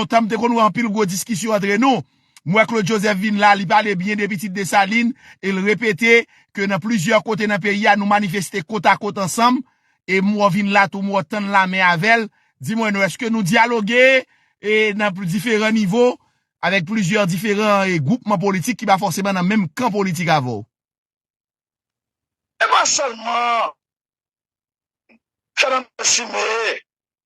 lontan m te konn wè anpil gwo diskisyon antre nou. M wè Claude Joseph vin la, li pale byen de pitit Desalin e l repete ke nan plizyè kote nan peyi a nou manifeste kotakot ansanm e m wè w vin la tou, m wè w tann lamen avè l. Di mwen non, èske nou dyaloge e nan diferan nivo avèk plizyè diferan e gwoupman politik ki pa fòseman nan menm kan politik avè w? E pa sèlman Fernanda Cime,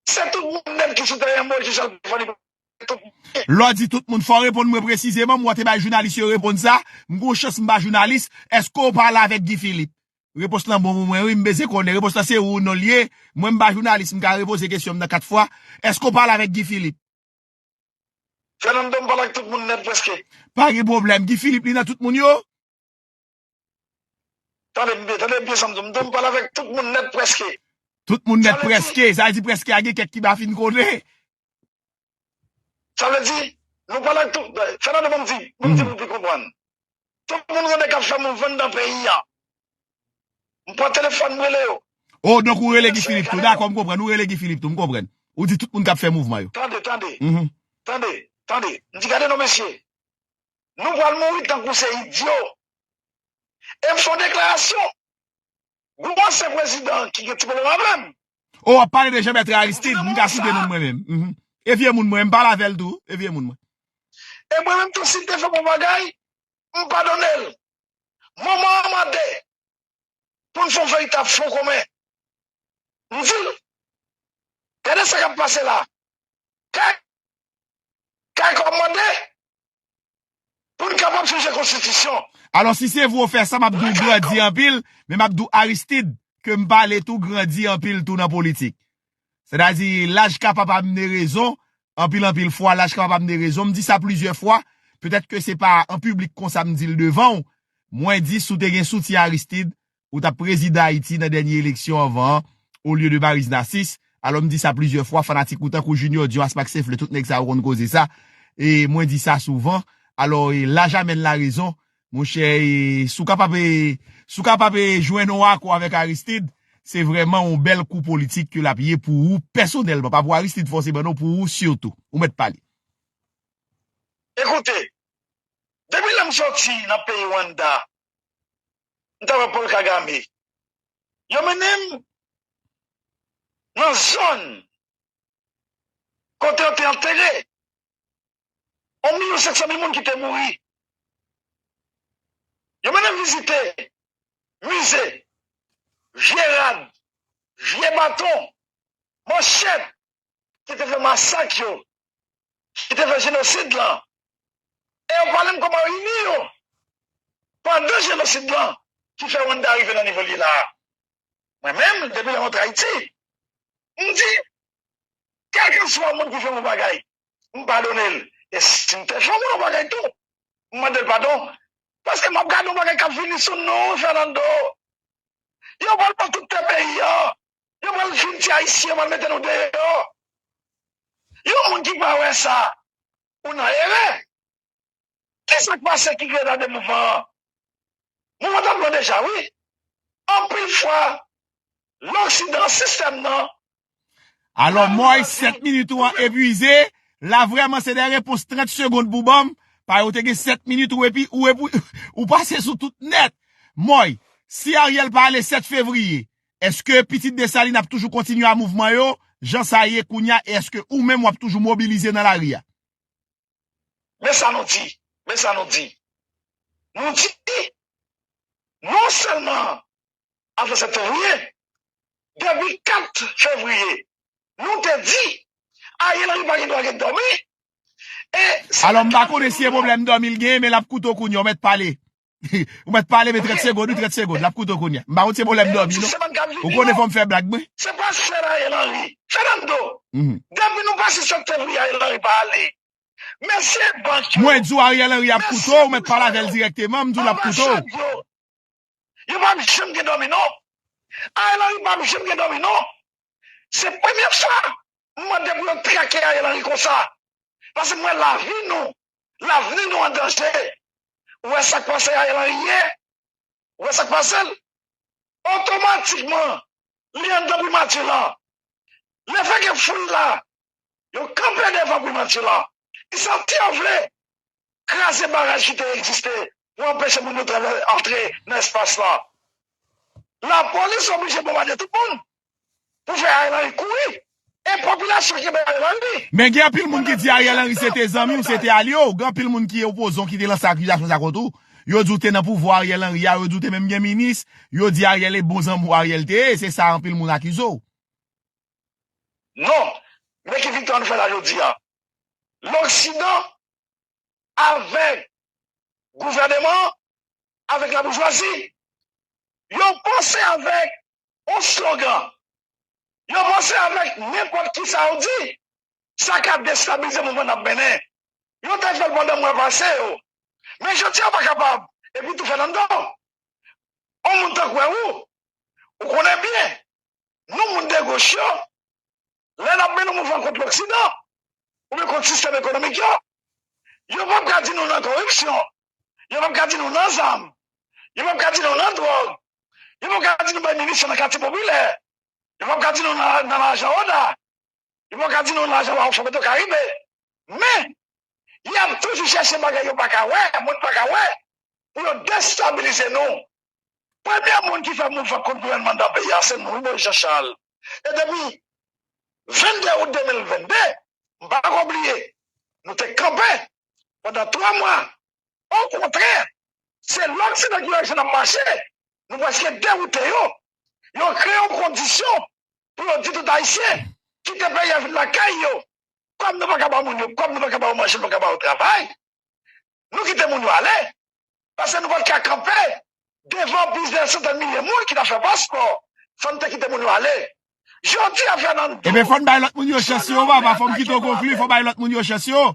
se tout moun nèt ki sou tèren Moïse Jean Pierre Fanny Pascal, tout moun. Lè w di tout moun, fò w reponn mwen presizeman, mwen te bay jounalis yo reponn sa, m gon chans m pa jounalis, èske w pale avèk Guy Philippe? Repons lan bon pou mwen wi, m bezyen konnen, repons lan se wi ou non l ye, mwen m pa jounalis, m ka repoze kesyon m nan 4 fwa, èske w pale avèk Guy Philippe? Fernando, m pale ak tout moun nèt prèske. Pa gen pwoblèm, Guy Philippe li nan tout moun yo? Tande byen, tande byen sa m di w. M di w m pale avèk tout moun nèt prèske. Tout moun nèt prèske. Sa vle di prèske a gen kèk ki m pa fin konnen. Sa vle di, nou pale ak tout. Fènando ban m di, ban m di pou w pi konprann. Tout moun rele k ap fè moun vann dan peyi a. M pran telefòn m rele yo. O, donk ou rele Guy Philippe tou. Dakò, m konprann. Ou rele Guy Philippe tou. M konprann. Ou di tout moun k ap fè mouvman yo. Tande, tande. Tande, tande. M di gade non mesye. Nou pral mouri tankou se idyo. E m son deklarasyon. Gwo ansyen prezidan ki gen ti pwoblèm avè m. O wap pale de Jean-Bertrand Aristide, m ka site non mwen menm. E vye moun mwen, m pale avè l tou. E vye moun mwen. E mwen menm tou si l te fè bon bagay, m padone l. Moman an mande pou n fè yon veritab fwon komen. M di l, gade sa k ap pase la. Kay kòmande Pou n kapab chanje konstitisyon. Alò si se vre w fè sa map di w grandi anpil, men map di w Aristid ke m pale tou grandi anpil tou nan politik. Sè ta di laj kapab amene rezon, anpil anpil fwa laj kapab amene rezon, m di sa plizyè fwa, petèt ke se pa an piblik konsa m di l devan w, mwen di si w te gen soutyen Aristid, ou tap prezidan Ayiti nan dènye eleksyon anvan an o lye de Maryse Narcisse, alò m di sa plizyè fwa fanatik ou tankou Junior Dion Asma Xfle tout nèg sa yo konn koze sa e mwen di sa souvan alò e laj amèn la rezon mon chè e si w kapab e si w kapab e jwenn on akò avèk Aristide se vrèman on bèl kou politik ke lap ye pou ou pèsonèlman pa pou Aristide fòseman non pou ou sitou ou mèt pale. Ekoute, depi lè m sòti nan peyi Rwanda m ta wè Paul Kagame yo mennen m nan zòn kote yo te antere yon milyon senk san mil moun ki te mouri yo mennen m vizite mize vye rad vye baton manchèt ki te fè masak yo, ki te fè jenosid lan, e yo pale m kòman yo ini yo pandan jenosid lan ki fè Wannda rive nan nivo l ye la a. Mwen menm, depi lè m antre Ayiti, m di, kèlkeswa moun ki fè m yon bagay, m padone l. E si m te fè yon moun yon bagay tou, m mande l padon, paske m ap gade yon bagay k ap vini sou nou, Fènando. Yo pral pran tout tè peyi an. Yo pral fin ti ayisyen yo pral mete nou deyò. Yon moun ki pa wè sa ou nan erè. Kisak pase ki Greda de mouvman an? Mouvman tap lan deja wi. Anpil fwa loksidan sistèm nan. Alò Moy 7 minit ou an epuize la vrèman se de repons 30 segond pou banm pa yo te gen 7 minit ou epi ou pase sou tout nèt Moy si Ariel pa ale 7 fevriye Eske pitit Desalin ap toujou kontinye a mouvman yo jan sa ye kounya e eske ou menm wap toujou mobilize nan lari a? Men sa nou di, men sa nou di, nou di non sèlman avan septanvye, depi 4 fevriye nou te di Ariel Henry pa gen dwa ret dòmi e se nan 4 fevriye. Alò m pa konnen si e pwoblèm dòmi l genyen men lap koute w kounya w mèt pale. Ou met pale men 30 segond, 30 segond, lap koute w kounye a. M pa konn se pwoblèm dòmi non. Ou konnen fò m fè blag mwen. Se pa sè Ariel Henry. Fernando, depi nou pase septenvri Ariel Henry pa ale. Men se bank yo. Mwen di w Ariel Henry ap koute w, ou met pale avè l dirèkteman, m di w lap koute w. Yo pap janm gen dòmi non. Ariel Henry pap janm gen dòmi non. Se premye fwa m mande pou yo trake Ariel Henry konsa. Pase m wè lavi nou Lavni nou an danje ou wè sak pase Ariel Henry ye ou wè sak pasel otomatikman li andan primati lan le fè ke foul la yo kanpe devan primati lan e sa ti yo vle kraze baraj ki te egziste pou anpeche moun yo travè antre nan espas la. Lapolis oblije bonbade tout moun pou fè Ariel Henry kouri e popilasyon kenbe Ariel Henry. Men gen anpil moun ki di Ariel Henry se te zanmi w, se te alye w. Gen anpil moun ki opoze w ki te lanse akizasyon sa kont ou. Yo di w te nan pouvwa Ariel Henry a, yo di w te menm gen minis. Yo di Ariel e bon zanmi w Ariel te ye. Se sa anpil moun akize w. Non, men ki viktwa nou fè la jodi a. Loksidan avèk gouvèneman an, avèk laboujwazi. Yo panse avèk yon slogan. Yo panse avèk nenpòt kisa yo di, sa ka destabilize mouvman n ap mennen. Yo te fè l pandan mwa pase yo. Men jodi a yo pa kapab epi tou fèt anndan w. On moun tankou wè ou, ou konnen byen, nou moun degoch yo, lè n ap mennen mouvman kont loksidan oubyen kont sistèm ekonomik yo, yo p ap ka di nou nan koripsyon, yo p ap ka di nou nan zam, yo p ap ka di nou nan dwòg, yo p ap ka di nou bay minisyon nan katye popilè, yo p ap ka di nou nan lajan ODA, yo p ap ka di nou nan lajan Wawafò Petro Karibe, men, y ap toujou chèche bagay yo pa ka wè, moun pa ka wè, pou yo destabilize nou. Premye moun ki fè mouvman kont gouvènman nan peyi a se nou wi Moyiz Janchal. e depi 22 out 2022 m pa ko bliye nou te kanpe pandan 3 mwa okontrè se loksidan ki aji nan mache nou preske dewoute yo yo kreye yon kondisyon pou yo di tout ayisyen kite peyi a vin lakay yo kòm nou pa ka ba moun yo kòb nou pa ka ba yo manje nou pa ka ba yo travay nou kite moun yo ale, paske nou pa t ka kanpe devan plizyè santèn milye moun ki t ap fè paspò, fò n te kite moun yo ale. Jodi a, Fernando. Enben, fò n bay lòt moun yo chans yo, Vava, fò m kite w konkli, fò w bay lòt moun yo chans yo.